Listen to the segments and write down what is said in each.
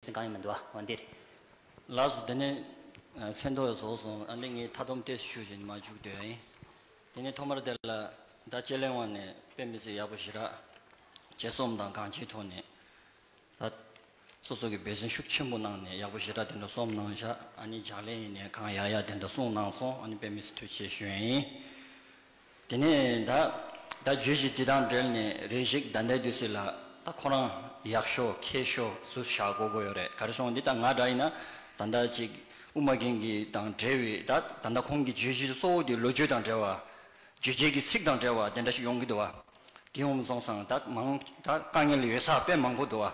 ཚན་གང་ཡང་མི་འདུག་ཨ་འོན་ཏེ། Last དེ་ནི། ཚེ་མདོ་བཟོ་སོང་ཨ་འདི་ངས་མཐའ་སྡོམ་ཏེ་ཞུ་བཞིན་མ་བཅུག་དོན་ཨེ། དེ་ནི་ཐོག་མར་དེ་ལ་བརྡ་སྤྱད་གླེང་བ་ནས་དཔེ་མི་ཚེ་ཡག་པོ་ཞི་རགས། བྱེད་སོམ་དང་གང་བྱེད་ཐོག་ནས། ད། སོ་སོ་གི་འབད་བརྩོན་ཤུགས་ཆེན་པོ་གནང་ནས་ཡག་པོ་ཞི་རགས་དེ་འདྲ་སོམ་གནང་བཞག་ཨ་ནི་ལྗགས་ལན་ཡིན་ནས་གང་ཡག་ཡག་དེ་འདྲ་གསུངས་གནང་སོང་ཨ་ནི་དཔེ་མི་ཚེ་ཐུགས་ཆེ་ཞུ་ཨེ། དེ་ནས་ད་ད་རྗོད་གཞི་དེ་དང་འབྲེལ་ནས་རེ་ཞིག་ད་ལྟའི་དུས་སུ་ལ་ད་ཁོ་རང་ཡག་ཤོ་མཁས་ཤོ་སུ་བཞག་གོ་གོ་ཡོད་རེད་ག་རེ་སོང་འདི་ད་ང་འདྲ་ཡིན་ན་ད་ད་ཅིག་དབུ་མ་རྒན་གྱི་དང་འབྲེལ་བའི་ད་ད་ད་ཁོང་གི་རྗོད་གཞི་གཙོ་བོ་དེ་ལོ་རྒྱུས་དང་འབྲེལ་བ། རྗོད་བྱེད་ཀྱི་ཚིག་དང་འབྲེལ་བ་དེ་འདྲ་ཞིག་ཡོང་གི་འདུག་བ། དེའི་འོག་རྫོང་སངས་དག་མང་དག་དཀའ་ངལ་ཡོད་ས་དཔེ་མང་པོ་འདུག་ཨ།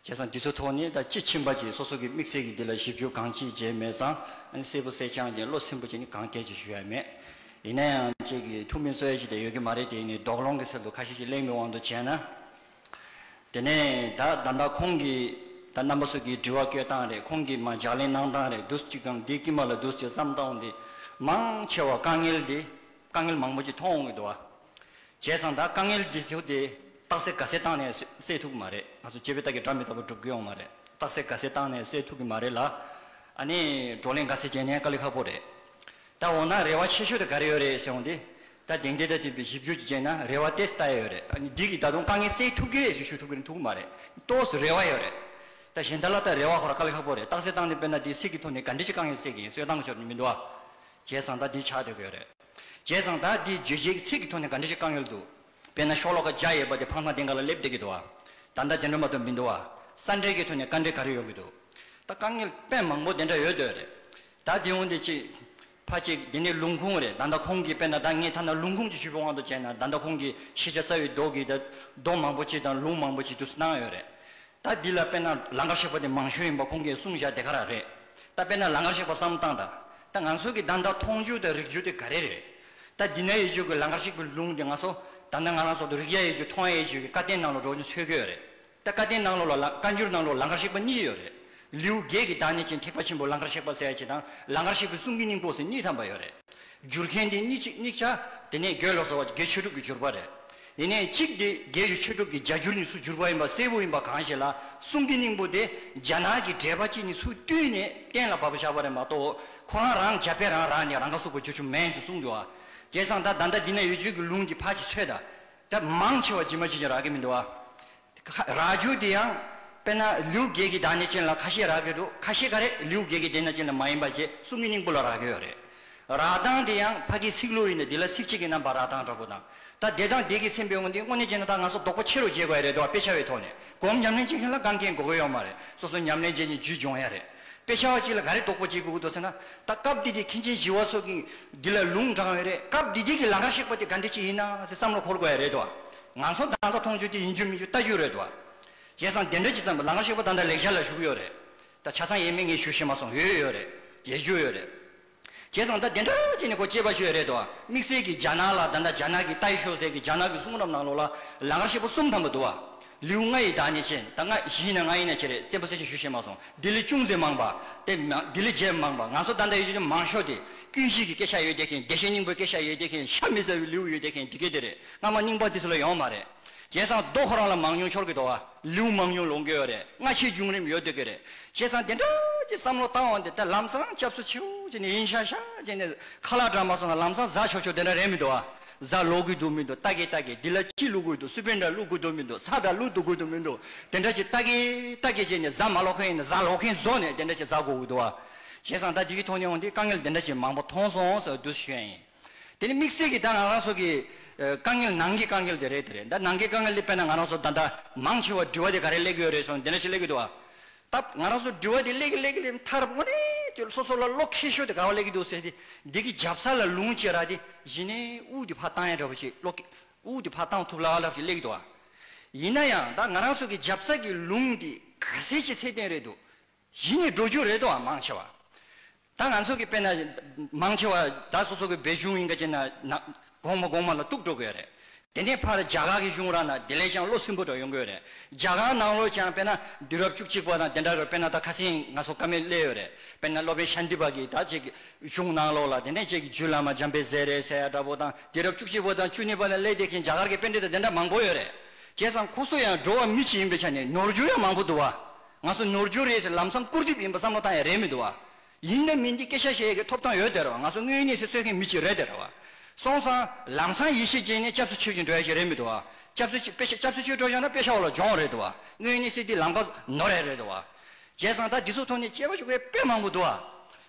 བྱས་ཙང་འདི་ཚོའི་ཐོག་ནས་ད་ཅི་ཕྱིན་པ་ཅིག་སོ་སོ་གིས་དམིགས་བསལ་གྱིས་འདི་ལ་ཞིབ་འཇུག་གང་ཅིའི་བྱས་མེད་ཙང་ཨ་ནི་གསལ་པོ་གསལ་རྐྱང་ཅིང་བློ་སེམས་པོ་ཅིག་ནི་གང་ཐད་ཀྱིས་ཞུ་ཡ་མེད། ཡིན་ན་ཡང་ཅིག་གིས་ཐུགས་མི་གཙོ་ཡ་ཅིག་དེ་ཡོད་ཀྱི་མ་རེད་དེ་ནི་དོགས་སློང་གི་ཚུལ་དུ་ཁ་ཤས་ཅིག་གླེང་བའི་དབང་དུ་བྱས་ན། དེ་ནས་ད་ད་ལྟ་ཁོང་གིས་ད་རྣམ་པ་སོ་གིས་འདྲི་བ་བསྐྱོད་སྟངས་རེད་ཁོང་གིས་མ་ལྗགས་ལན་གནང་སྟངས་རེད་འདུག་ཅིག་གམ་འདིའི་དཀྱིལ་མ་ལ་འདུག་ཅིག་བསམ་སྟངས་འོང་དེ། མང་ཆེ་བ་དཀའ་ངལ་འདི་དཀའ་ངལ་མང་པོ་ཅིག་མཐོང་འོང་གི་འདུག་ཨ། བྱས་ཙང་ད་དཀའ་ངལ་འདི་ཚོ་དེ་རྟགས་གསལ་ག་སེ་བཏང་ནས་སེལ་ཐུབ་གི་མ་རེད་ང་ཚོ་སྤྱི་བའི་རྟགས་ཀྱི་སྒྲ་མི་རྟག་པ་སྒྲུབ་གི་ཡོང་མ་རེད་རྟགས་གསལ་ག་སེ་བཏང་ནས་སེལ་ཐུབ་གི་མ་རེད་ལ་ཨ་ནི་བགྲོ་གླེང་ག་སེ་བྱས་ནས་དཀའ་ལས་ཁག་པོ་རེད་ད་འོ་ན་རེ་བ་ཆེ་ཤོས་དེ་ག་རེ་ཡོད་རེད་ཟེར་འོང་དེ་ད་དེང་དེ་ད་དེ་བཞི་བཅུ་གཅིག་བྱས་ན་རེ་བ་ཏེས་ད་ཡོད་རེད་ཨ་ནི་འདི་གིས་ད་དུང་དཀའ་ངལ་སེལ་ཐུབ་གི་རེད་ཞུ་ཞུ་ཐུབ་གི་རེད་ཐུབ་གི་མ་རེད་ཏོས་སུ་རེ་བ་ཡོད་རེད་ད་གཞན་དག་ལ་ད་རེ་བ་ཤོར་དཀའ་ལས་ཁག་པོ་རེད་རྟགས་གསལ་བཏང་ནས་དཔེར་ན་དེ་སེལ་གི་ཐོག་ནས་ག་འདྲི་ཅིག་དཀའ་ངལ་སེལ་གི་ཡིན་གསོལ་བཏང་གི་ཆོག་ནི་མི་འདུག་བྱས་ཙང་ད་དེ་ཆགས་སྡོད་གི་ཡོད་རེད། བྱས་ཙང་ད་འདི་བརྗོད་བྱའི་ཚིག་གི་ཐོག་ནས་ག་འདྲ་ཞིག་བཀང་ཡོད་འདུག་དཔེར་ན་ཤོག་ལོ་ཀ་བརྒྱ་ཡས་པ་དེ་ཕང་ཐང་སྟེང་ག་ལ་སླེབས་བསྡད་ཀྱི་འདུག་ཨ། ད་ལྟ་དེ་འདྲ་མ་འདུག་མི་འདུག་ཨ། ས་འབྲེལ་གྱི་ཐོག་ནས་བཀའ་འདྲི་ག་རེ་ཡོང་གི་འདུག་ད་དཀའ་ངལ་དཔེ་མང་པོ་དེ་འདྲ་ཡོད་འདོད་རེད། ད་དེ་འོང་དེ་ཅིག། ཕ་གཅིག་དེ་ནི་ལུང་ཁུངས་རེད་ད་ལྟ་ཁོང་གིས་དཔེར་ན་ད་ངས་ཐ་ན་ལུང་ཁུངས་ཀྱི་ཞུ་བའི་དབང་དུ་བྱས་ན་ད་ལྟ་ཁོང་གིས་ཤེས་བྱ་རྩ་བའི་རྡོག་གིས་ད་རྡོག་མང་པོ་ཅིག་དང་ལུང་མང་པོ་ཅིག་བསྡུ་གསོད་གནང་ཡོད་རེད། ད་འདི་ལ་དཔེར་ན་ལང་ཀར་གཤེགས་པ་དེ་མང་ཤོས་ཡིན་པ་ཁོང་གིས་གསུངས་བཞག་དེ་ག་རང་རེད། ད་དཔེར་ན་ལང་ཀར་གཤེགས་པ་བསམ་སྟངས་དང་ད་ང་ཚོ་གི་ད་ལྟ་མཐོང་རྒྱུ་དང་རིག་རྒྱུ་དེ་ག་རེ་རེད། ད་འདི་ན་ཡེ་ཆོས་ཀྱི་ལང་ཀར་གཤེགས་པའི་ལུང་དེ་ང་ཚོ་ད་ནངས་ང་རང་སོགས་དང་རིག་ཡ་ཡེ་ཆོས་མཐོང་ཡ་ཡེ་ཆོས་ཀྱི་བཀའ་བསྟན་ནང་ལོ་འགྲོ་ཀྱིན་འཚོལ་གྱི་ཡོད་རེད། ད་བཀའ་བསྟན་ནང་ལོ་ལ་བཀའ་འགྱུར་ནང་ལོ་ལང་ཀར་གཤེགས་པ་གཉིས་ཡོད་རེད། ལེའུ་བརྒྱད་ཀྱི་དང་ནས་ཅན་ཐེག་པ་ཆེན་པོ་ལང་ཀར་གཤེགས་པ་སའི་ཆེ་དང་ལང་ཀར་གཤེགས་པའི་གསུང་གི་སྙིང་པོ་ཟེར་གཉིས་ཐམ་པ་ཡོད་རེད། བསྒྱུར་མཁན་དེ་གཉིས་གཅིག་གཉིས་ཆ་དེ་ནས་དགེ་བློ་བཟོ་བ་དགེ་ཆོས་གྲུབ་ཀྱིས་བསྒྱུར་པ་རེད། དེ་ནས་གཅིག་དེ་རྒྱལ་གྱི་ཆོས་གྲུབ་ཀྱི་རྒྱ་གྱུར་ནི་སུ་གྱུར་པ་ཡིན་པ་གསལ་བོ་ཡིན་པ་གང་ཞིག་ལ་གསུང་གི་སྙིང་པོ་དེ་རྒྱ་ནག་གི་དྲེགས་པ་གཅིག་ནི་སུ་བཏུལ་ནས་གཏན་ལ་ཕབ་པ་ཞགས་པ་རེད་མ་གཏོགས་ཁོ་རང་རང་རྒྱ་བལ་རང་རང་ནས་རང་ཁ་གསོ་བོ་རྒྱུ་ཆུ་མེན་ཞིག་གསུང་འདུག་ཨ་ཀྱེ་སང་ད་ད་ལྟ་འདི་ན་ཡོད་བརྗོད་ཀྱི་ལུང་གི་ཕ་ཆེ་ཚོད་ད་ད་མང་ཆེ་བ་ཇི་མ་ཇི་བཞིན་རག་གི་མི་འདུག་ཨ། རྭ་ཅོ་དེ་ཡང་དཔེར་ན་ལུས་བརྒྱད་ཀྱི་བདག་ཉིད་ཅན་ལ་ཁ་ཤས་རག་གི་འདུག་ཁ་ཤས་ག་རེ་ལུས་བརྒྱད་ཀྱི་བདེན་ན་ཅན་ལ་མ་ཡིན་པ་རྗེས་གསུམ་གྱི་སྙིང་པོ་ལ་རག་གི་ཡོད་རེད། རག་གདངས་དེ་ཡང་ཕ་གིའི་ཚིག་ལུས་ཡིན་ནི་དེ་ལ་ཚིག་གཅིག་གི་རྣམ་པ་རག་གདངས་འདྲ་པོ་དང། ད་བདེ་དང་བདེ་གི་སེམས་དཔའི་ངོ་འདི་དངོས་གནས་ཅན་ན་ད་ང་ཚོ་ལྡོག་པོ་ཆེ་རུ་བརྗེད་དགོས་ཡ་རེད་འདུག་དཔེ་ཆ་བའི་ཐོག་ནས་གོམས་ཉམས་ལེན་བྱེད་མཁན་ལ་དགའ་མཁན་དགོས་གི་ཡོད་མ་རེད་སོ་སོ་ཉམས་ལེན་བྱས་ནས་རྒྱུད་སྦྱོང་ཡ་རེད་དཔེ་ཆ་བ་གཅིག་ལ་ག་རེ་ལྡོག་པོ་བརྗེད་དགོས་གི་འདུག་ཟེར་ན་ད་སྐབས་འདི་དེ་མཁན་ཆེན་བཞི་བ་སོགས་ཀྱིས་འདི་ལ་ལུང་དྲངས་ཡོད་རེད་སྐབས་འདི་དེ་གི་ལང་ཀར་གཤེགས་པ་དེ་ག་འདྲི་ཅིག་ཡིན་ན་ཟེར་བསམ་བློ་འཁོར་དགོས་ཡ་རེད་འདུག་ང་ཚོ་ད་ལྟ་མཐོང་ཆོས་འདི་ཡིན་རྒྱུ་མིན་རྒྱུ་ལྟ་རྒྱུ་རེད་དོ། བྱས་ཙང་དེ་འདྲ་ཅིག་ཙམ་གྱི་ལག་ངར་ཤེས་པོ་ད་ལྟ་ལེགས་ཆ་ལ་ཞུགས་ཡོད་རེད། ད་ཆ་ཚང་ཡས་མས་ངས་ཞུ་ཤེས་མ་སོང་ཡོད་ཡོད་རེད། ཡས་རྒྱུ་ཡོད་རེད། བྱས་ཙང་ད་དེ་འདྲ་ཅིག་ནས་ཁོ་སྐྱེས་པ་ཞིག་ཡོད་རེད་དོ། དམིགས་བསལ་གྱི་རྒྱ་ནག་ལ་ད་ལྟ་རྒྱ་ནག་གི་ཏའི་ཤོག་ཟེར་གྱི་རྒྱ་ནག་གི་གསུང་རབ་ནང་ལོགས་ལ་ལག་ངར་ཤེས་པོ་གསུམ་ཐམ་པ་འདུག་བ། ལིའུ་ལྔ་ཡི་དག་ནས་ཅན་ད་ལྔ་བཞི་ཡིན་ན་ལྔ་ཡིན་ན་བྱེད་རེད་བཙན་པོ་གསལ་ཆ་ཞུ་ཤེས་མ་སོང་ལྡི་ལི་ཅུང་ཟད་མང་བ། དེ་མ་ལྡི་ལི་བརྒྱད་མང་བ་ང་ཚོ་ད་འདྲ་ཡོད་རྒྱུ་ནི་མང་ཤོས་དེ། ཀུན་གཞིས་ཀྱི་སྐད་ཆ་ཡོད་བསྡད་མཁན་བདེ་གཤེགས་སྙིང་པོའི་སྐད་ཆ་ཡོད་བསྡད་མཁན་ཤ་མི་ཟ་བའི་ལིའུ་ཡོད་བསྡད་མཁན་འདི་གས་དེ་རེད། སྔ་མ་རྙིང་པ་དེ་ཚོ་ལ་ཡོང་མ་རེད། བྱས་ཙང་རྡོ་ཁོ་རང་ལ་མང་ཉུང་ཆོར་གི་འདུག་ཨ། ལེའུ་མང་ཉུང་ལོངས་དགོས་རེད་སྔ་ཕྱིའི་བྱུང་རིམ་ཡོད་སྡོད་ཀྱི་རེད། བྱས་ཙང་དེ་འདྲ་ཀྱི་བསམ་བློ་བཏང་བ་འདི་ད་ལམ་སང་སྐྱབས་སུ་མཆིའོ་ཅེས་ནས་ཡིན་ཤག་ཤག་ཅེས་ནས་ཁ་ལག་བགྲང་མ་སོང་ན་ལམ་སང་བཟའ་ཆོག་ཆོག་དེ་འདྲ་རེད་མི་འདུག་ཨ། བཟའ་ལོག་དགོས་འདུག་མི་འདུག་ལྟ་གི་ལྟ་གི་འདི་ལ་ཅི་བླུག་དགོས་འདུག་སུ་པན་འདྲ་བླུག་དགོས་འདུག་མི་འདུག་ས་འདྲ་བླུག་འདུག་དགོས་འདུག་མི་འདུག་དེ་འདྲ་ཅིག་ལྟ་གི་ལྟ་གི་ཅེས་ནས་བཟའ་མ་ལོག་མཁན་ཡིན་ན་བཟའ་ལོག་མཁན་བཟོ་ནས་དེ་འདྲ་ཅིག་བཟའ་དགོས་འདུག་ཨ། བྱས་ཙང་ད་འདི་གི་ཐོག་ནས་འོང་དུས་དཀའ་ངལ་འདི་འདྲ་ཅིག་མང་པོ་མཐོང་སོང་ཟེར་བ་འདུག་ཤེས་ཡོད་ཡིན། དེ་ནི་དམིགས་བསལ་གྱི་ད་ང་རང་སོགས་ཀྱི། དཀའ་ངལ་ནང་གི་དཀའ་ངལ་དེ་རེད་དེ་རེད་ད་ནང་གི་དཀའ་ངལ་དེ་དཔེར་ན་ང་རང་སོགས་ད་ལྟ་མང་ཆེ་བ་འདྲི་བ་དེ་ག་རེ་གླེགས་ཡོད་རེད་སོང་དེ་འདྲ་ཞིག་གླེགས་ཀྱི་འདུག་ཨ། སྟབས་ང་རང་སོགས་འདྲི་བ་དེ་གླེགས་གླེགས་གླེགས་མཐར་དངོས་གནས་དེ་སོ་སོ་ལ་བློ་ཁེལ་ཤོས་དེ་ག་བ་གླེགས་ཀྱི་འདུག་ཟེར་ཏེ་འདི་གི་རྒྱབ་ས་ལ་ལུང་བཅད་ར་དེ་གཞི་ནས་དབུགས་དེ་ཕར་བཏང་ཡ་འདྲ་བོ་ཞིག་བློ་ཁེལ་དབུགས་དེ་ཕར་བཏང་ཐུབ་ལ་ལབ་ཞིག་གླེགས་ཀྱི་འདུག་ཨ། ཡིན་ན་ཡང་ད་ང་རང་སོགས་ཀྱི་རྒྱབ་ས་ཀྱི་ལུང་དེ་ག་ཟེ་ཆེ་ཚད་ལྡན་རེད་འདུག་གཞི་ནས་འགྲོ་རྒྱུ་རེད་དོ་ཨ་མང་ཆེ་བ། ད་ང་ཚོ་གི་དཔེ་ན་མང་ཆེ་བ་ད་སོ་སོ་གི་བའི་གཞུང་ཡིན་ག་ཅེ་ན་ན་གོང་མ་གོང་མ་ལ་གཏུགས་འགྲོ་གོས་རེད། དེ་ནས་ཕར་རྒྱ་གར་གི་གཞུང་ར་ན་དེ་ལས་ཀྱང་བློ་སིམ་པོ་འདྲ་ཡོང་གོས་རེད། རྒྱ་གར་ནང་ལོ་ཀྱང་དཔེ་ན་དུས་རབས་བཅུ་གཅིག་པ་དང་དེ་འདྲ་གི་དཔེ་ན་ད་ཁ་སེང་ང་སོ་ཀ་མེད་སླེ་ཡོད་རེད། དཔེ་ན་སློབ་དཔོན་ཤཱནྟི་པ་གིས་ད་ཅིག་གཞུང་ནང་ལོ་ལ་དེ་ནས་ཅིག་རྒྱུད་བླ་མ་འཇམ་དཔལ་ཟས་རེད་ཟས་ཡ་འདྲ་པོ་དང་དུས་རབས་བཅུ་གཅིག་པ་དང་བཅུ་གཉིས་པ་ལ་སླེ་དེ་གིན་རྒྱ་གར་གི་དཔེ་འདི་དང་དེ་འདྲ་མང་པོ་ཡོད་རེད། བྱས་ཙང་ཁོ་སོ་ཡང་འགྲོ་བ་མི་གཅིག་ཡིན་པའི་ཆ་ནས་ནོར་རྒྱུ་ཡང་མང་པོ་འདུག་བ། ང་ཚོ་ནོར་འཁྱུར་རེད་ཟེར་ལམ་སང་སྐུར་དེབ་ཡིན་པ་བསམ་བློ་བཏང་ཡ་རེད་མི་འདུག་བ། ཡིན་ནམ་མིན་འདི་སྐད་ཆ་བཤད་ཡ་གི་ཐོབ་ཐང་ཡོད་དེ་ར་བ་ང་ཚོ་དངོས་གནས་སེ་གསོད་མཁན་མི་གཅིག་རེད་དེ་ར་བ། སོང་སང་ལམ་སང་ཡེ་ཤེས་ཅན་ནས་སྐྱབས་སུ་མཆོད་ཀྱིན་འགྲོ་ཡ་ཞིག་རེད་མི་འདུག་བ། སྐྱབས་སུ་མཆོད་སྐྱབས་སུ་མཆོད་འགྲོ་ཡོང་ན་དཔེ་ཆ་བ་ལ་སྦྱོང་རེད་དུ་བ། དངོས་གནས་སེ་འདི་ལམ་ཁ་ནོར་ཡ་རེད་དུ་བ། བྱས་ཙང་ད་འདི་ཚོ་ཐོག་ནས་སྐྱེ་བ་ཤོར་བའི་དཔེ་མང་པོ་འདུག་བ།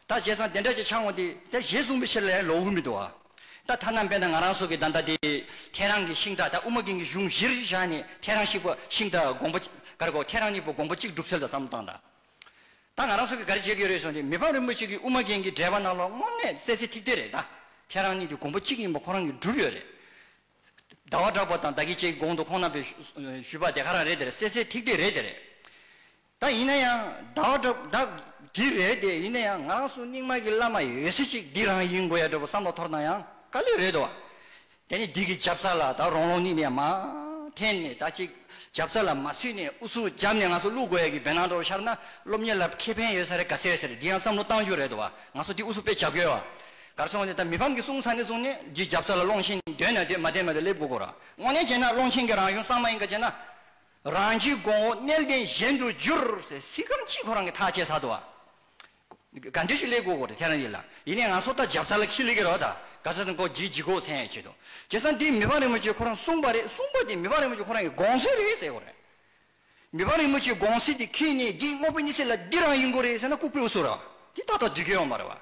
ད་བྱས་ཙང་དེ་འདྲ་ཅིག་འཆང་ངོ་དེ་དེ་ཞེས་གསུངས་པའི་ཕྱིར་ལས་ལོག་འུར་མི་འདུག་ཨ། ད་ཐ་ན་དཔེར་ན་ང་རང་སོགས་ཀྱིས་ད་ལྟ་དེ་ཁྱེད་རང་གི་ཤིང་རྟ་དང་དབུ་མ་རྒན་གྱི་གཞུང་གཞིར་བཞག་ནས་ཁྱེད་རང་ཤིག་པ་ཤིང་རྟ་དགོངས་པ་གར་གོ་ཁྱེད་རང་གཉིས་པོ་དགོངས་པ་གཅིག་སྒྲུབ་ཚུལ་ལ་བསམ་བློ་བཏང་དང། ད་ང་རང་སོགས་ཀྱིས་ག་རེ་བྱེད་ཀྱི་ཡོད་རེད་གསུངས་དེ་མི་ཕམ་རིན་པོ་ཆེ་གིས་དབུ་མ་རྒན་གྱི་འགྲེལ་པ་རྣམས་ལ་དངོས་གནས་གསལ་གསལ་ཐིག་ཐིག་རེད་ད། ཁྱེད་རང་གཉིས་དེ་དགོངས་པ་གཅིག་ཡིན་པ་ཁོ་རང་གིས་སྒྲུབ་ཡོད་རེད། ཟླ་བ་གྲགས་པ་དང་ད་ཁྱེད་ཀྱིས་དགོངས་འདུག་ཁོང་རྣམ་པས་ཞུས་པ་དེ་ག་རང་རེད་དེ་རེད་གསལ་གསལ་ཐིག་ཐིག་རེད་དེ་རེད། ད་ཡིན་ན་ཡང་ཟླ་བ་འདྲ་བོ་འདི་རེད་དེ་ཡིན་ན་ཡང་ང་རང་སུ་རྙིང་མ་གི་བླ་མ་ཡོད་སྲིད་ཅིག་འདི་རང་ཡིན་དགོས་ཡ་འདྲ་བོ་བསམ་བློ་ཐོར་ན་ཡང་དཀའ་ལས་རེད་དོ། དེ་ནས་འདི་གི་རྒྱབ་རྩ་ལ་ད་རོང་རོང་ནི་ནས་མ་འཐེན་ནས་ད་ཅིག་རྒྱབ་རྩ་ལ་མ་ཚུད་ནས་ཨུ་ཚུགས་རྒྱབ་ནས་ང་སུ་བླུག་དགོས་ཡ་གི་བེ་ནང་འདྲ་བོ་ཤར་ན་སློབ་གཉེར་ལ་ཁེ་ཕན་ཡོད་ས་རེད་ག་ཚད་ཟེར་འདི་ཡང་བསམ་བློ་གཏང་རྒྱུ་རེད་དོ་ང་སུ་འདི་ཨུ་ཚུགས་དཔེ་རྒྱབ་དགོས་ཡ་གར་སོང་ནས་ད་མི་ཕམ་གི་གསུང་ཚ་ནས་བཟུང་ནས་འདི་རྒྱབ་རྩ་ལ་སློང་ཆེན་འདོད་ན་འདོད་མ་འདོད་མ་འདོད་སླེབས་དགོས་དགོས་ར་དངོས་གནས་བྱས་ན་སློང་ཆེན་གི་རང་གཞུང་གསང་མ་ཡིན་ག་བྱས་ན། རང་གི་གོང་འོག་གནས་བརྟན་གཞན་དུ་བསྒྱུར། སྲིད་ཁམས་སྤྱི་ཁོ་རང་གི་ཐག་བཅད་ས་དོ། དགའ་འདོད་ཅིག་ལེགས་གོ་གོ་རེ་ཐེ་རང་ཡིན་ལ། ཡིན་ནས་ང་སོ་ལྟ་འཇབ་ཚ་ལ་ཁི་ལི་གེ་རོ་ད་ག་ཚ་ཚ་གོ་གི་གི་གོ་ཚེ་ཡང་བྱེད་དོ། བྱེད་ས་འདི་མི་ཕ་རིན་པོ་ཆེ་ཁོ་རང་གསུངས་པ་རེད་གསུངས་པ་འདི་མི་ཕ་རིན་པོ་ཆེ་ཁོ་རང་གི་དགོངས་སེལ་རེད་ཟེར་གོ་རེ། མི་ཕ་རིན་པོ་ཆེ་དགོངས་སེལ་འདི་ཁི་ནི་འདི་སྔོག་པའི་ནི་སེ་ལ་འདི་རང་ཡིན་གོ་རེ་ཟེར་ན་ལྐུག་པའི་འུ་སུ་ར་བ་འདི་ཏག་ཏག་འདུས་ཀྱི་ཡོང་པ་རེད་བ།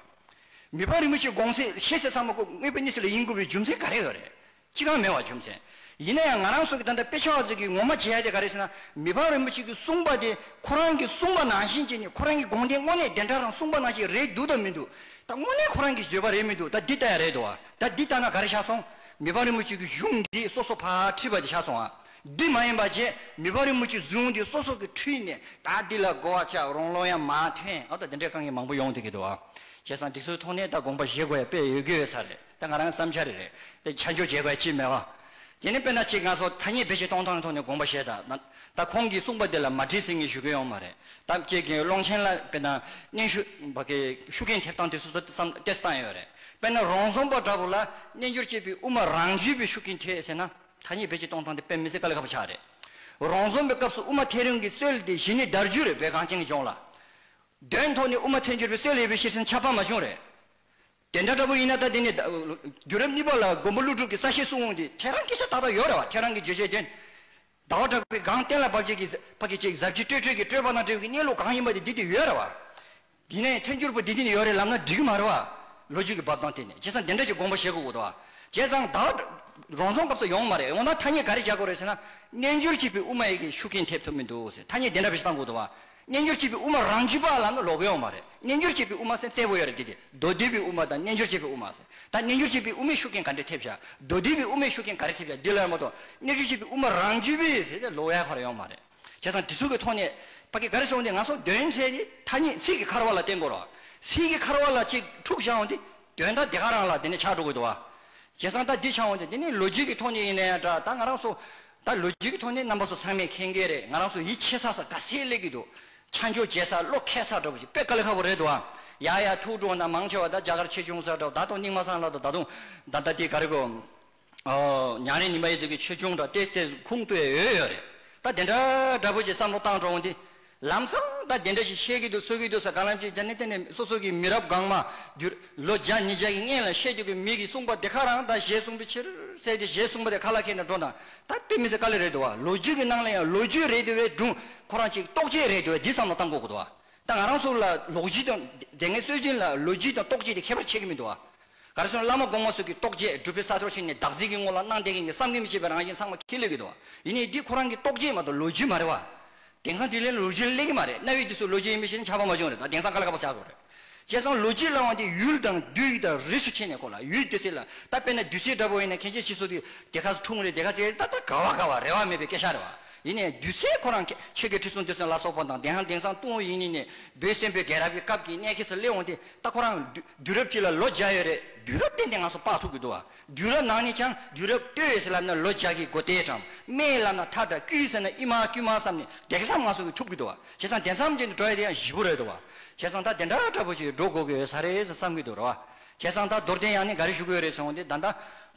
མི་ཕ་རིན་པོ་ཆེ་དགོངས་སེལ་ཤེས་ཟེར་ཚང་མ་ཀོ་སྔོད་པའི་ནི་སེ་ལ་ཡིན་དགོས་པའི་རྒྱུ་མཚན་ག་རེ་ཡོད་རེད། ཅི་གང་མེད་བར་འཇོམས་ཟེར། ཡིན་ན་ཡང་ང་རང་སོགས་ཀྱིས་ད་ལྟ་དཔེ་ཆ་བ་ཚོས་ཀྱིས་ངོ་མ་བྱེད་ཡ་དེ་ག་རེད་ཟེར་ན། མི་ཕམ་རིན་པོ་ཆེ་གིས་གསུངས་པ་དེ་ཁོ་རང་གིས་གསུངས་པ་ནང་བཞིན་བྱས་ནས་ཁོ་རང་གི་དགོངས་དེ་དངོས་གནས་བདེན་གྲགས་དང་གསུངས་པ་ནང་བཞིན་རེད་འདུག་དང་མི་འདུག་ད་དངོས་གནས་ཁོ་རང་གིས་བརྗོད་པ་རེད་མི་འདུག་ད་འདི་ལྟ་ཡ་རེད་འདུག་བ་ད་འདི་ལྟ་ན་ག་རེ་ཆགས་སོང། མི་ཕམ་རིན་པོ་ཆེ་གིས་གཞུང་འདི་སོ་སོ་ཕར་ཁྲིད་པ་དེ་ཆགས་སོང་བ། འདི་མ་ཡིན་པ་བྱས་མི་ཕམ་རིན་པོ་ཆེས་གཞུང་འདི་སོ་སོ་གིས་ཁྲིད་ནས་ད་འདི་ལ་གོ་བ་ཆགས་རང་བློ་ཡང་མ་ཐོན་ཨ་མདོ་འདི་འདྲའི་དཀའ་ངལ་མང་པོ་ཡོང་ཐུག་གི་འདུག་བ། བྱས་ཙང་འདི་ཚོའི་ཐོག་ནས་ད་དགོངས་པ་བཞེས་དགོས་ཡ་དཔེ་ཡོད་དགོས་ས་རེད། དེ་ང་རང་གི་བསམ་འཆར་རེད། དེ་ཆ་འཇོག་བྱེད་དགོས་ཡ་ཅི་མེད་བ། དེ་ནི་དཔེར་ན་ཅིག་ང་ཚོ་ཐ་སྙད་བེད་སྤྱད་གཏོང་སྟངས་ཀྱི་ཐོག་ནས་དགོངས་པ་བཞེས་དང། ད་ཁོང་གིས་གསུངས་པ་དེ་ལ་མ་དྲིས་ཟིན་གི་ཞུ་མཁན་ཡོང་མ་རེད་དམ་ཅེས་དགེ་འོས་ཀློང་ཆེན་ལ་དཔེར་ན་སྙན་ཞུ། བ་ཀའི་ཤུགས་རྐྱེན་ཐེབས་སྟངས་དེ་སོ་སོ་བསམ་གཏན་སུ་བཏང་ཡོད་རེད། དཔེར་ན་རོང་ཟོམ་པ་འདྲ་བོ་ལ་སྨྱན་སྦྱོར་བྱེད་པའི་དབུ་མ་རང་བརྒྱུད་པའི་ཤུགས་རྐྱེན་ཐེབས་ཟེར་ན་ཐ་སྙད་བེད་སྤྱད་གཏོང་སྟངས་དེ་དཔེ་མི་སྲིད་ཀ་ལས་ཁ་བ་ཆགས་རེད། རོང་ཟོམ་པའི་སྐབས་སུ་དབུ་མ་ཐལ་རིང་གི་སྲོལ་དེ་གཞི་ནས་དར་རྒྱུ་རེད་བོད་གངས་ཅན་གྱི་ལྗོངས་ལ། དོན་ཐོག་ནས་དབུ་མ་ཐལ་འགྱུར་བའི་སྲོལ་ཡོད་པའི་ཤེས་ཟིན་ཆ་ཕ་མ་ཅུང་རེད། དེ་འདྲ་འདྲ་པོ་ཡིན་ན་ད་དེ་ནས་དུས་རབས་གཉིས་པ་ལ་མགོན་པོ་ཀླུ་སྒྲུབ་ཀྱི་ས་བཤད་གསུང་འོང་དུས་ཁྱེད་རང་གི་ཤ་ཏག་ཏག་ཡོད་རེད་བ་ཁྱེད་རང་གི་བརྗོད་བྱའི་དོན། ཟླ་བ་གྲགས་པའི་སྒང་གཏན་ལ་བབས་རྗེས་ཀྱི་ཀྱི་ཅིག་ཟབ་ཅིག་སྤྲོས་སྤྲོས་ཀྱི་སྤྲོས་པ་དང་སྤྲོས་པའི་གནས་ལུགས་གང་ཡིན་པ་དེ་འདི་དེ་ཡོད་རེད་བ། དེ་ནས་ཐལ་འགྱུར་པོ་འདི་འདི་ནས་ཡོད་རེད་ལབ་ན་འགྲིག་གི་མ་རེད་བ། ལོ་རྒྱུས་ཀྱི་བབས་སྟངས་དེ་ནས་བྱས་ཙང་འདི་འདྲ་ཅིག་དགོངས་པ་བཞེས་དགོས་ཀྱི་འདུག་བ། བྱས་ཙང་ད་བར་རང་སོང་སྐབས་སུ་ཡོང་གི་མ་རེད་འོ་ན་ཐ་སྙད་ག་རེ་བྱ་དགོས་རེད་ཟེར་ན། རྣལ་འབྱོར་གཅིག་པའི་དབུ་མ་ཡི་གེ་ཤུགས་རྐྱེན་ཐེབས་ཐུབ་མི་འདུག་ཟེར་ཐ་སྙད་འདི་འདྲ་བཞེས་སྟངས་དགོས་འདུག་བ། རྣལ་འབྱོར་བྱེད་པའི་དབུ་མ་རང་རྒྱུད་པ་ལ་ནི་ལོག་གི་ཡོད་མ་རེད་རྣལ་འབྱོར་བྱེད་པའི་དབུ་མ་སེམས་གསལ་བོ་ཡོད་རེད་དེ་དེ་མདོ་སྡེ་པའི་དབུ་མ་དང་རྣལ་འབྱོར་བྱེད་པའི་དབུ་མ་ཟེར་ད་རྣལ་འབྱོར་བྱེད་པའི་དབུ་མའི་ཤུགས་རྐྱེན་ག་འདྲས་ཐེབས་བྱ་མདོ་སྡེ་པའི་དབུ་མའི་ཤུགས་རྐྱེན་ག་རེ་ཐེབས་བྱ་འདི་ལ་ཡང་མ་གཏོགས་རྣལ་འབྱོར་བྱེད་པའི་དབུ་མ་རང་རྒྱུད་པས་ཟེར་ཏེ་ལོག་ཡ་ག་རེ་ཡོད་མ་རེད་བྱས་ཙང་དེ་ཚུལ་གྱི་ཐོག་ནས་པ་ཀི་ག་རེ་བྱུང་སྟེ་ང་ཚོ་དོན་དེ་ནི་ཐ་སྙད་ཚིག་གི་འཁར་བ་ལ་བརྟེན་དགོས་རོགས་ཚིག་གི་འཁར་བ་ལ་གཅིག་འཁྲུག་བྱུང་སྟེ་དོན་དག་དེ་ག་རང་ལ་དེ་ནས་ཆགས་འགྲོ་གི་འདུག་བ། བྱས་ཙང་ད་འདི་ཆགས་འོང་སྟེ་འདི་ནི་ལོ་རྒྱུས་ཀྱི་ཐོག་ནས་ཡིན་ནའི་འདྲ་ད་ང་རང་སུ་ད་ལོ་རྒྱུས་ཀྱི་ཐོག་ནས་རྣམ་པ་སོགས་ཚང་མས་མཁྱེན་གྱི་རེད་ང་རང་སོ་ཡིད་ཆེས་ས་ས་དགའ་སེ་ལེགས་ཀྱི་འདུག་ཆ་འཇོག་བྱེད་ས་བློ་ཁེལ་ས་འདྲ་བོ་ཞིག་དཔེ་ཀ་ལེ་ཁ་བོ་རེད་འདུག་ཨ། ཡ་ཡ་ཐུགས་སྤྲོ་ན་མང་ཆེ་བ་ད་རྒྱ་གར་ཆེ་ཆུང་ས་འདྲ་བོ་ད་དུང་སྙིང་མ་སངས་ལགས་འདུག་ད་དུང་ད་ལྟ་དེ་ག་རེ་གོ། ཉང་རེ་ཉིན་པ་ཡི་ཟེར་གྱི་ཆོས་ཆུང་འདྲ་སྟེ་སེ་ཁུང་ལྟོས་ཡོད་ཡོད་རེད་ད་དེ་འདྲ་འདྲ་བོ་ཞིག་བསམ་བློ་བཏང་འགྲོ་འོང་དེ། ལམ་སང་ད་དེ་འདྲ་ཞིག་བཤད་ཀྱི་འདུག་གསོལ་གྱི་འདུག་ས་ག་ལམ་ཅིག་ཅར་ནི་དེ་ནི་སོ་སོ་གི་མི་རབས་གང་མ་བསྒྱུར། ལོ་བརྒྱ་ཉིས་བརྒྱ་ཀྱི་སྔན་ལ་བཤད་རྒྱུ་གི་མི་གིས་གསུངས་པ་དེ་ཁ་རང་ད་གཞས་གསུངས་པའི་ཕྱིར་གསལ་ཏེ་གཞས་གསུངས་པ་དེ་ཁ་ལ་ཁེལ་ནས་འགྲོ་དང་ད་དཔེ་མི་ཚེ་དཀའ་ལས་རེད་འདུག་བ་ལོ་རྒྱུས་ཀྱི་ནང་ལ་ཡང་ལོ་རྒྱུས་རེད་འདུག་བས་སྒྲུང་ཁོ་རང་ཅིག་རྟོགས་བྱེད་རེད་འདུག་བས་འདི་བསམ་བློ་བཏང་དགོས་གི་འདུག་བ་ད་ང་རང་ཚོ་ལ་ལོག་རྒྱུས་དང་དེ་སྔའི་སྲོལ་རྒྱུན་ལ་ལོ་རྒྱུས་དང་རྟོགས་བྱེད་དེ་ཁྱད་པར་ཆེ་གི་མི་འདུག་བ་ག་རེ་སོང་བླ་མ་དགོངས་མ་སོགས་ཀྱི་རྟོགས་བྱེད་སྒྲུབ་པའི་ས་ཐོར་ཞིག་ནས་བདག་གཟིགས་ཀྱི་ངོ་ལ་སྣང་བསྡད་མཁན་གྱི་བསམ་གྱིས་མི་ཁྱབ་པའི་རང་བཞིན་ཚང་མ་ཁས་ལེན་གི་འདུག་བ་ཡིན་ནའི་འདི་ཁོ་རང་གི་རྟོགས་བྱེད་མ་གཏོགས་ལོ་རྒྱུས་མ་རེད་བ། དེང་སང་དེ་ལས་ལོ་རྒྱུས་གླེང་གི་མ་རེད་གནའ་བོའི་དུས་སུ་ལོ་རྒྱུས་ཡིན་མིན་ཞེ་ན་ཆགས་པ་མ་བྱུང་རེད་ད་དེང་སང་ག་ལ་ག་པར་ཆགས་དགོས་རེད། བྱས་ཙང་ལོ་རྒྱུས་གླེང་བ་འདི་ཡུལ་དང་བདུད་ཡིག་དང་རིས་སུ་ཕྱེ་ནས་གོ་ལ་ཡུལ་བདུད་ཟེར་ལ་ད་དཔེར་ན་བདུད་སྲིད་འདྲ་པོ་ཡིན་ན་ཁྱེད་ཅག་ཕྱིས་སུ་དེ་དེ་ག་ཚོ་འཁྲུངས་རེད་དེ་ག་ཚེ་རེད་ད་ད་ག་བ་ག་བ་རེ་བ་མེད་པའི་སྐད་ཆ་རེད་བ། ཡིན་ནས་བདུད་སྲིད་ཁོ་རང་ཁྱེད་ཀྱི་ཁྲི་སྲོང་བདུད་སྲིན་ལ་སོགས་པ་དང་དེང་སང་དེང་སང་ཏུང་ཡིན་ནི་ནས་བོད་བཙན་པོའི་རྒྱལ་རབས་ཀྱི་སྐབས་ཀྱི་གནས་ཁེ་སི་གླེང་འོང་དེ་ད་ཁོ་རང་བདུད་རབས་གཅིག་ལ་ལོ་བརྒྱ་ཡོད་རེད་བདུད་རབས་བསྟན་ཏེ་ང་ཚོ་དཔག་ཐུབ་ཀྱི་འདུག་བ། དུས་རབས་ནང་ནས་ཀྱང་དུས་རབས་སྟོད་ཟེར་ལབ་ན་ལོ་བརྒྱ་གི་སྒོ་དེས་གྲངས་སྨད་ལབ་ན་ཐག་འདྲ་དཀྱུས་ཟེར་ན་ཨི་མ་དཀྱུས་མ་བསམ་ནས་བརྡེག་བསམ་ང་སོ་གི་ཐུབ་གི་འདུག་བ་བྱས་ཙང་དེ་མཚམས་ཅན་དུ་འགྲོ་ཡ་དེ་ཡང་བཞི་པོ་རེད་འདུག་བ་བྱས་ཙང་ད་དེ་འདྲ་འདྲ་པོ་ཞིག་འགྲོ་དགོས་ཀྱི་ཡོད་ས་རེད་ཟེར་བསམ་གི་འདུག་ར་བ་བྱས་ཙང་ད་རྡོར་གདན་ཡང་ནས་འགའ་རེ་ཞུ་གི་ཡོད་རེད་ཟེར་འོང་དེ་ད་ད་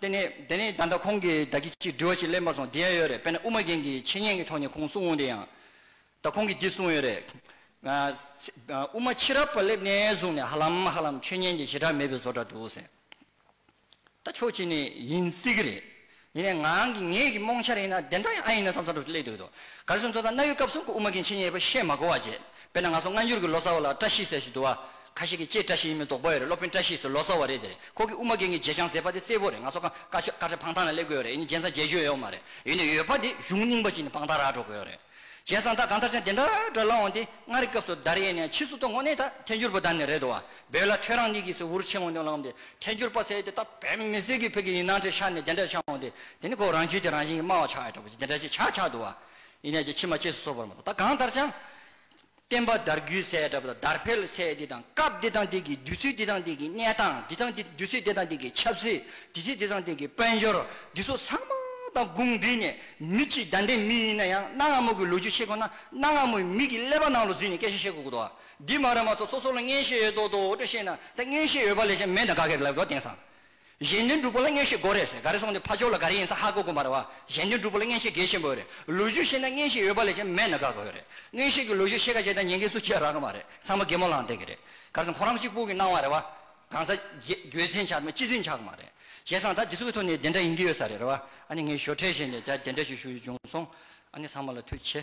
དེ་ནས་དེ་ནས་ད་ད་ཁོང་གིས་བདག་གིས་ཅིག་འདྲི་བ་ཞིག་གླེང་པ་སོང་དེ་ཡང་ཡོད་རེད་དཔེར་ན་དབུ་མ་རྒན་གྱིས་འཆད་ཉན་གྱི་ཐོག་ནས་ཁོང་གསུང་འོང་དེ་ཡང་ད་ཁོང་གིས་འདི་གསུང་ཡོད་རེད། དབུ་མ་ཕྱི་རབས་པ་སླེབས་ནས་བཟུང་ནས་ཧ་ལམ་ཧ་ལམ་ཆོས་ཉན་གྱི་ཞེ་དྲག་མེད་པའི་བཟོ་འདྲ་འདུག་ཟེར། ད་ཆོག་བྱས་ནས་ཡིན་སྲིད་གི་རེད། ཡིན་ནའི་ངང་གིས་ངེད་ཀྱི་རྨོངས་ཤར་ཡིན་ན་དེ་འདྲ་ཡང་ཨ་ཡིན་ན་བསམ་ས་རུ་སླེབས་འདུག་དོ། ག་རེ་ཟུར་མཛོ་དང་གནའ་ཡུལ་སྐབས་གསུམ་གྱི་དབུ་མ་མཁན་ཆེན་གཉིས་པ་ཤེས་མ་གོ་བ་བརྗེད། དཔེར་ན་ང་ཚོ་སྔ་འགྱུར་གྱི་ལོ་ཙཱ་བ་ལ་བཀྲ་ཤིས་ཟེར་ཞིག་འདུག་བ། ཁ་ཤས་ཀྱིས་ཀྱེ་བཀྲ་ཤིས་ཡིན་མིན་དོགས་པ་ཡོད་རེད་སློབ་དཔོན་བཀྲ་ཤིས་སུ་ལོ་ཙཱ་བ་རེད་དེ་རེད་ཁོ་གི་དབུ་མ་མཁན་གྱི་རྗེ་འཆང་ཟེར་བ་དེ་གསལ་པོ་རེད་ང་ཚོ་ཁ་བཀའ་ཆོས་བཀའ་ཁྲི་འཕང་ཐང་ལ་སླེབས་དགོས་ཡོད་རེད་ཡིན་ན་རྗེ་འཆང་རྗེས་ཤོད་ཡོད་མ་རེད་ཡིན་ནའི་ཡོད་པ་དེ་གཞུང་རྙིང་པ་ཅིག་ནས་དཔང་རྟགས་རག་འགྲོ་དགོས་ཡོད་རེད། གཞན་གསང་བདག་གང་ལྟར་ཅན་དེ་འདྲ་འདྲ་ལ་འོངས་ཏེ་སྔར་གྱི་སྐབས་སུ་བདར་ཡས་ནས་ཕྱིས་སུ་ཏུ་ངོ་ནས་ད་ཐལ་འགྱུར་པོ་བདར་ནས་རེད་དོ་བ་བོད་ལ་ཐོས་རང་ཉིད་ཀྱིས་སུ་འུར་ཆེན་མོ་འདོན་ལགས་འདི་ཐལ་འགྱུར་པ་ཟེར་ཏེ་ད་བོད་མི་ཟེར་གི་བོད་ཀྱི་ཡིན་ནང་ཁྲི་ཤར་ནས་དེ་འདྲ་ཆགས་འོངས་ཏེ་དེ་ནི་ཁོ་རང་རྒྱུད་དེ་རང་བཞིན་གྱིས་སྨྲ་བ་ཆགས་ཡོད་འདྲ་པོ་ཅི་དེ་འདྲ་ཅི་ཆགས་ཆགས་འདུག་བ་ཡིན་ནས་ཀྱི་ཕྱི་མ་གཅེས་སུ་གསོ་བར་མ་གཏོགས་ད་གང་ལྟར་ཅང། བསྟན་པ་དར་རྒུད་སའི་གྲབས་ལ་དར་འཕེལ་སའི་འདི་དང་སྐབས་འདི་དང་འདི་གི་དུས་ཚོད་འདི་དང་འདི་གི་གནས་སྟངས་འདི་དང་འདི་དུས་ཚོད་འདི་དང་འདི་གི་ཆབ་སྲིད་དུས་ཚོད་འདི་དང་འདི་གི་དཔལ་འབྱོར་འདི་ཚོ་ཚང་མ་དང་དགུང་འདི་ནས་མི་གཅིག་ཟླ་འདྲེ་མི་ཡིན་ན་ཡང་གནའ་སྔ་མོ་གི་ལོ་རྒྱུས་ཤེས་དགོས་ན་གནའ་སྔ་མོའི་མི་གི་ཀླད་པ་ནང་ལོ་འཛུལ་ནས་སྐད་ཆ་བཤད་དགོས་དགོས་འདུག་འདི་མ་རེད་མ་ཚོ་ཚོ་ཚོ་ལ་མངན་ཤེས་ཡོད་མདོག་མདོག་འོ་དྲ་བཤད་ན་ད་མངན་ཤེས་ཡོད་པ་ལས་ཅན་མེད་ད་ག་གེར་ལབ་དགོས་དེང་སང་གཞན་དོན་སྒྲུབ་པོ་ལ་བརྔན་ཤེས་དགོས་རེད་ཟེར་ག་རེ་སོང་དེ་ཕ་ཅོག་ལ་ག་རེ་ཡིན་ས་ཧ་གོ་གོ་མ་རེད་བ། གཞན་དོན་སྒྲུབ་པོ་ལ་བརྔན་ཤེས་དགེ་ཆེན་པོ་ཡོད་རེད་ལོས་ཞུས་ཤེས་ན་བརྔན་ཤེས་ཡོད་པ་ལས་ཀྱང་མེད་ན་དགའ་དགའ་ཡོད་རེད་བརྔན་ཤེས་ཀྱི་ལོས་ཞུས་ཤེས་ག་བྱས་ད་ཉན་གི་སུ་ཁྱེད་རག་གི་མ་རེད་ཚང་མ་རྒད་མོ་ལང་སྟེ་གི་རེད་ག་རེ་སོང་ཁོ་རང་གཅིག་པུ་གི་སྣང་བ་རེད་བ། གང་ཟག་རྒྱུད་འཛིན་ཆག་མེད་སྤྱི་འཛིན་ཆག་གི་མ་རེད་བྱས་ཙང་ད་དེ་ཚོ་གི་ཐོག་ནས་དེ་འདྲ་ཡིན་གི་ཡོད་ས་རེད་རེད་བ་ཨ་ནི་ངའི་ཞོར་ཁྲལ་བཞེས་ནས་ད་དེ་འདྲ་ཞིག་ཞུ་ཡི་བྱུང་སོང་ཨ་ནི་ཚང་མ་ལ་མཐུ་ཆེ།